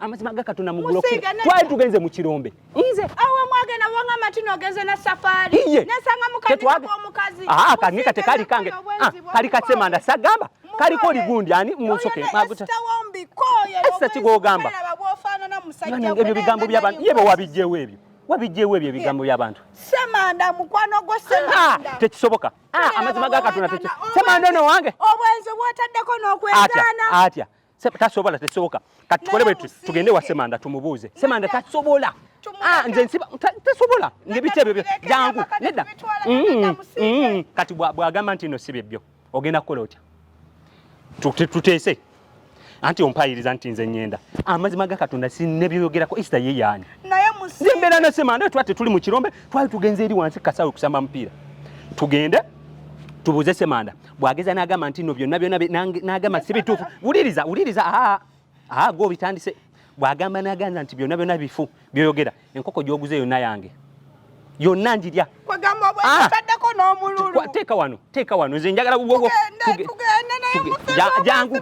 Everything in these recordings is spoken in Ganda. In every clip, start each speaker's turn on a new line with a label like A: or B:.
A: amazima ga katonda mugulokira twali tugenze mu kirombe nze awo mwagenda wanga
B: matino ogenze na safari nasanga mukazi omukazi ah kanika tekali
A: kange ah, kali katsemanda sagamba kaliko ligundi ani munsoke maguta
B: esa kigogamba ebyo bigambo byabantu
A: ye bwe wabijjewo ebyo wabijjewo ebyo ebigambo by'abantu semanda mukwano
B: gwo semanda ah, tekisoboka ah,
A: amazima ga katonda semanda ono wange obwenzi bwotaddeko
B: n'okwegaana atya
A: tasobola tesoboka kati tukole bwe tugende wa semanda tumubuuze semanda tasobola ah, nze nsiba tasobola ngebita ebyo jangu nedda mm, mm. kati bwagamba nti no si byebyo ogenda kukola otya tuteese anti ompayiriza nti nze nyenda amazima ga katonda sinebyoyogerako isita ye yaani nze mbeera
B: nasemanda twate
A: tuli mu kirombe twali tugenze eri wansi kasawe kusamba mupiira tugende tubuuze semanda bwageza nagamba nti no byonna byonna nagamba si bituufu wuliriza wuliriza aa aa gwe obitandise bwagamba naganza nti byonna byonna bifu byoyogera enkoko gyoguze yonna yange yonna njirya ah!
B: teeka wano teeka wano
A: nze njagala jangu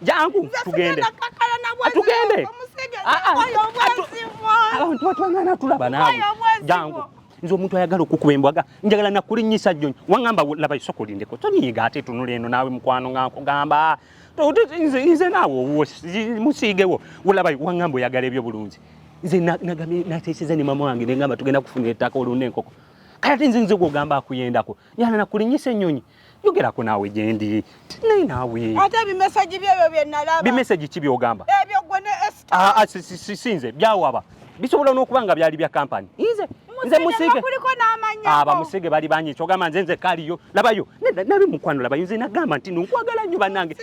A: jangu tugende ah, tugende ah, abantu batwangana tulaba naawe jangu nze omuntu ayagala okukuba embwaga njagala nakulinyisa jjony waŋamba laba isoko lindeko tonyiiga ate tunula eno naawe mukwano nga nkugamba nze naawe owuwo musiigewo olaba waŋamba oyagala ebyo bulungi nze nateeseza ne mama wange nengamba tugenda kufuna ettaka olunda enkoko kale ate nze nze gwogamba akuyendako njagala nakulinyisa ennyonyi yogerako naawe gyendi naye naawe ate bimeseji
B: byebyo byenalaba bimeseji ki byogamba
A: ebyo gwe
B: ne sinze byawaba
A: bisobola n'okuba nga byali bya kampani nze nze musige
B: abamusige ah, bali bangi
A: kyogamba nze nze kaliyo labayo nabi mukwano labayo nze nagamba nti nkwagala nnyo banange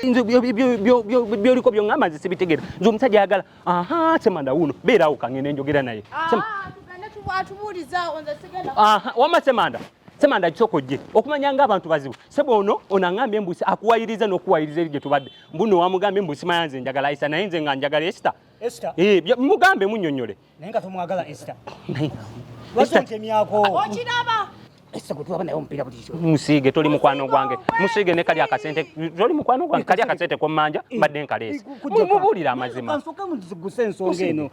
A: byoliko byongamba nze sibitegeera nze omusajja ayagala aha semanda wuno beerawo kangende njogera naye
B: ah, wama semanda
A: sema ndakisokojje okumanya nga abantu bazibu sebo ono ono angambye mbu akuwayiriza n'okuwayiriza eri gye tubadde mbu no wamugambye mbu sima yanze njagala ayisa naye nze nga njagala esita eh, mugambe munyonyole naye nga
C: tomwagala esita musiige toli mukwano
A: gwange musiige ne kali akasente toli mukwano gwange kali akasente kommanja mbadde nkaleesi mubuulira amazima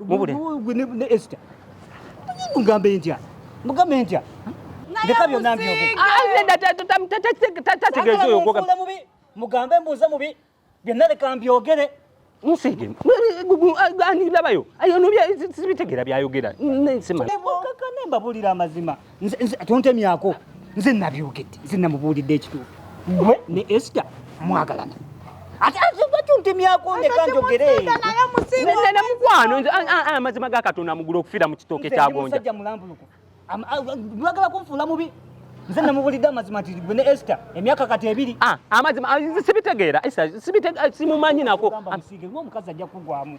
A: mubule
C: ne Esther mugambe ntya mugambe ntya ndeka byonna mbyogertategeeza
A: oyo ogwoga mugambe
C: mbuuze mubi byonna leka mbyogere musege
A: anilabayo ayonobya sibitegera byayogera nsemaaakane mbabulira
C: amazima tontemyako nze nabyogedde nze namubuulidde ekituufu gwe ne esita mwagalana ate atuntemyako ndeka njogere nene
A: mukwano amazima ga katonda mugulu okufira mu kitooke kyagonja
C: mwagala kunfuula mubi nze namubulidde amazima nti gwe ne esita emyaka kati ebiri ah, amazima ah,
A: sibitegeera sibitegeera simumanyi nako omukazi ajja
C: kugwamu